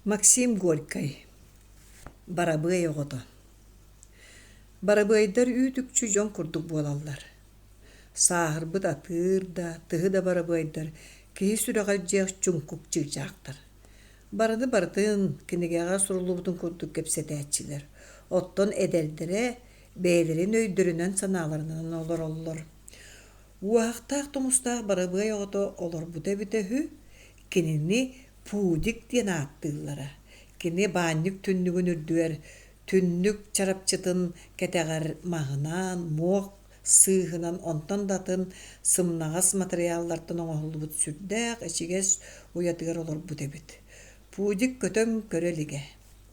Максим Горькай, барабыай оҕото. Барабыайдар үүт-үкчү дьон курдук буолаллар. Сааһырбыт атыыр да, тыһы да барабыайдар киһи сүрэҕэр дьиэх чуҥкук чыычаахтар. Барыны барытын кинигэҕэ суруллубутун курдук кэпсэтээччилэр. Оттон эдэрдэрэ бэйэлэрин өйдөрүнэн-санааларынан олороллор. Уоһахтаах-тумустаах барабыай оҕото олорбута эбитэ үһү, Кинини Пудик диэн ааттыыллара. Кини баанньык түннүгүн үрдүгэр түннүк чарапчытын кэтэҕэр маһынан, муох сыыһынан, онтон да атын сымнаҕас матырыйааллартан оҥоһуллубут сүрдээх ичигэс уйатыгар олорбут эбит. Пудик көтөн көрө илигэ.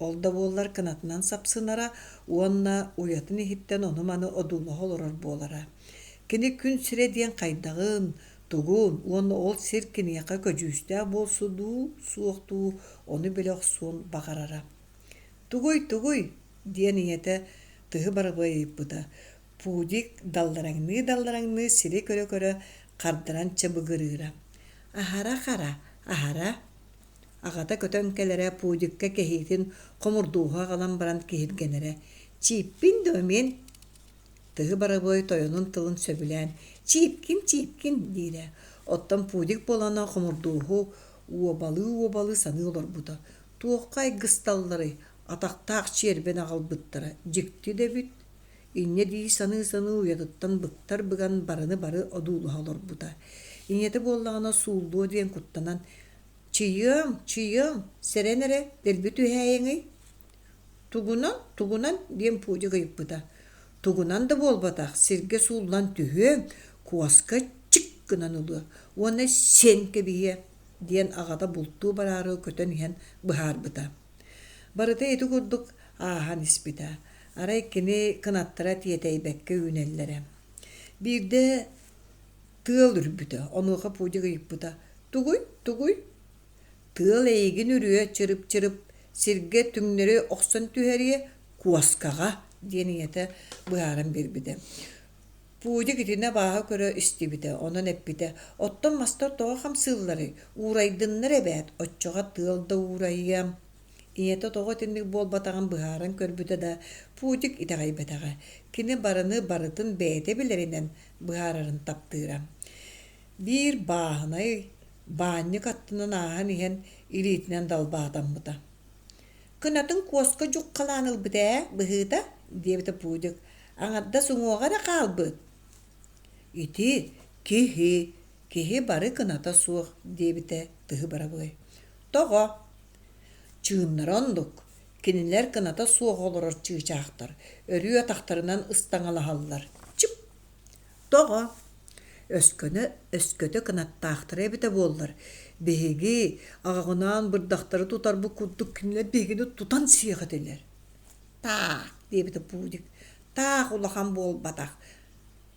Ол да буоллар кынатынан сапсынара уонна уйатын иһиттэн ону-маны одуулаһа олорор буолара. Кини күн сирэ диэн хайдаҕын, Тугун уонна ол сир киниэхэ көдьүүстээх буолсу дуу, суох дуу ону билэ охсуон баҕарара. «Тугуй, тугуй?» диэн ийэтэ тыһы барабыайыйбыта. Пудик даллараҥныы-даллараҥныы сири көрө-көрө хардаран чабыгырыыра. «Аһара хара, аһара» аҕата көтөн кэлэрэ Пудикка кэһиитин хомурдууһа аҕалан баран киһиргэнэрэ. «Чииппин дуо мин?» Тыһы Барабыай тойонун тылын сөбүлээн «Чииккин-чииккин» диирэ, оттон Пудик буолана хомурдуоһу уобалыы-уобалыы саныы олорбута. Туохха айгысталларый, атахтаах чиэрбин аҕалбыттара, дьикти да эбит. Инньэ дии саныы-саныы уйатыттан быктар быган барыны-бары одуулуһа олорбута. Ийэтэ буоллаҕына сууллуо диэн куттанан «Чийыам, чийыам, сэрэн эрэ, дэлби түһээйиҥий?» Тугунан, тугунан диэн Пудя гыйыппыта. Тугунан да буолбатах сиргэ сууллан түһүөм, куоска чик гынан ылыа уонна сиэн кэбиһиэ, диэн аҕата бултуу бараары көтөн иһэн быһаарбыта. Барыта ити курдук ааһан испитэ. Арай кини кынаттара тиэтэйбэккэ үүнэллэрэ. Биирдэ тыал үрбүтэ, онуоха Пудя ыйыппыта: «Тугуй, тугуй?» Тыал эйигин үрүө чырып-чырып сиргэ түҥнэри охсон түһэриэ, куоскаҕа, диэн ийэтэ быһааран биэрбитэ. Пудик итини абааһы көрө истибитэ, онон эппитэ, «Оттон мастар тоҕо хамсыылларый? Уурайдыннар эбээт, оччоҕо тыал да уурайыа». Ийэтэ тоҕо итинник буолбатаҕын быһааран көрбүтэ да, Пудик итэҕэйбэтэҕэ. Кини барыны барытын бэйэтэ билэринэн быһаарарын таптыыра. биир бааһынай баанньык аттынан ааһан иһэн илиитинэн далбаатаммыта кынатын куоска дьуххалаан ылбыт ээ быһыыта диэбитэ пуудик аҥардас уҥуоҕа эрэ хаалбыт ити киһи киһи бары кыната суох диэбитэ тыһы бырабыай тоҕо чыыннара оннук кинилэр кыната суох олорор чыычаахтар өрүү атахтарынан ыстаҥалаһаллар чып Тоҕо? Өскөнө өскөтө кынаттаахтара эбитэ буоллар, биһиги аҕаҕынаан бырдахтары тутарбыт курдук кинилэр биһигини тутан сиэх этилэр. Таах, диэбитэ Пудик. Таах улахан буолбатах.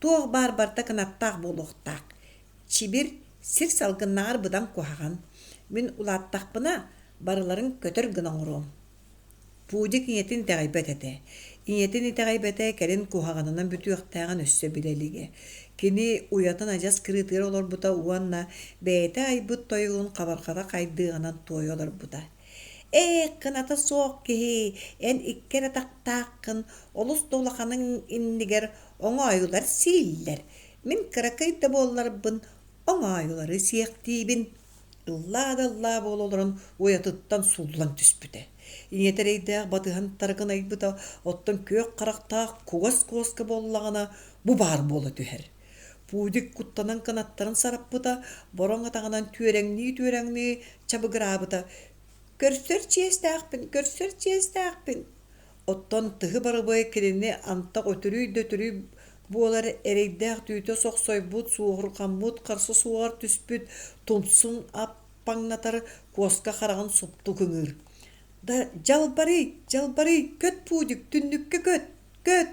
Туох баар барыта кынаттаах буолуохтаах. Чибир сир салгыннааҕар быдан куһаҕан. Мин улааттахпына, барыларын көтөр гына оҥоруом Пудик ийэтин итэҕэйбэт этэ. Ийэтин итэҕэйбэтэ кэлин куһаҕанынан бүтүөхтээҕин өссө билэ илигэ. Кини уйатын адьас кырыытыгар олорбута уонна бэйэтэ айбыт тойугун хабарҕата хайдыаҕынан туойа олорбута. «Ээ, кыната суох киһи, эн икки эрэ атахтааххын, олус да улаханыҥ иннигэр оҥоойулар сииллэр. Мин кыракый да буолларбын, оҥоойулары сиэхтиибин» ыллаа да ыллаа буола олорон уйатыттан сууллан түспүтэ. ийэтэ эрэйдээх батыһантары кынайбыта, оттон күөх харахтаах кугас куоска буоллаҕына бу баар буола түһэр. Пудик куттанан кынаттарын сараппыта, бороҥ атаҕынан түөрэҥнии-түөрэҥнии чабыгыраабыта. «Көрсөр чиэстээхпин, көрсөр чиэстээхпин!» Оттон тыһы барыбыай кинини антах өтүрүй да өтүрүй буолар эрэйдээх түүтэ сохсойбут, суоһурҕаммыт, харса суоҕар түспүт тумсун аппаҥнатар куоска хараҕын супту кыҥыыр. «Да дьалбарый, дьалбарый, көт, Пудик, түннүккэ көт, көт!»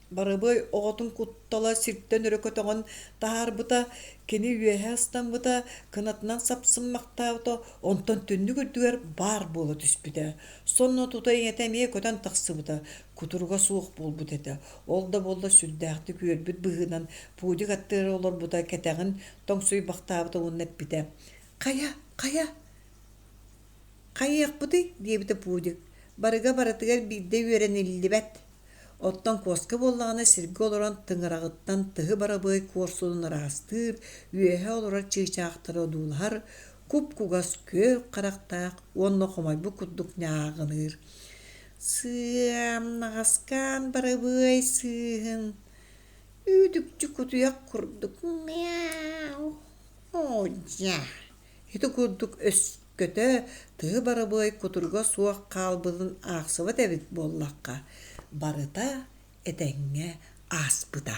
Барыбыай оҕотун куттала сиртэн өрө көтөҕөн таһаарбыта, кини үөһэ астаммыта, кынатынан сапсыммахтаабыта, онтон түннүк үрдүгэр баар буола түспүтэ. Сонно тута-иҥэтэ эмиэ көтөн тахсыбыта, кутуруга суох буолбут этэ. Ол да буолла сүрдээхтик үөрбүт быһыынан пудик аттыгар олорбута, кэтэҕин тоҥсуйбахтаабыта уонна эппитэ: «Хайа, хайа, хайыахпытый?» диэбитэ пудик. «Барыга барытыгар биирдэ үөрэниллибэт. Оттон куоска буоллаҕына сиргэ олорон тыҥыраҕыттан тыһы барабыай куорсунун араастыыр, үөһэ олорор чыычаахтары одуулаһар, куп-кугас күөх харахтаах уонна хомойбут курдук ньааҕыныыр. Сыам, наҕаскаан барабыай сыыһын. Үүдүкчү кутуйах курдук мяу, оо дьэ. Ити курдук өскөтө тыһы барабыай кутурга суох хаалбытын аахсыбат эбит буоллахха, барыта этэҥҥэ ааспыта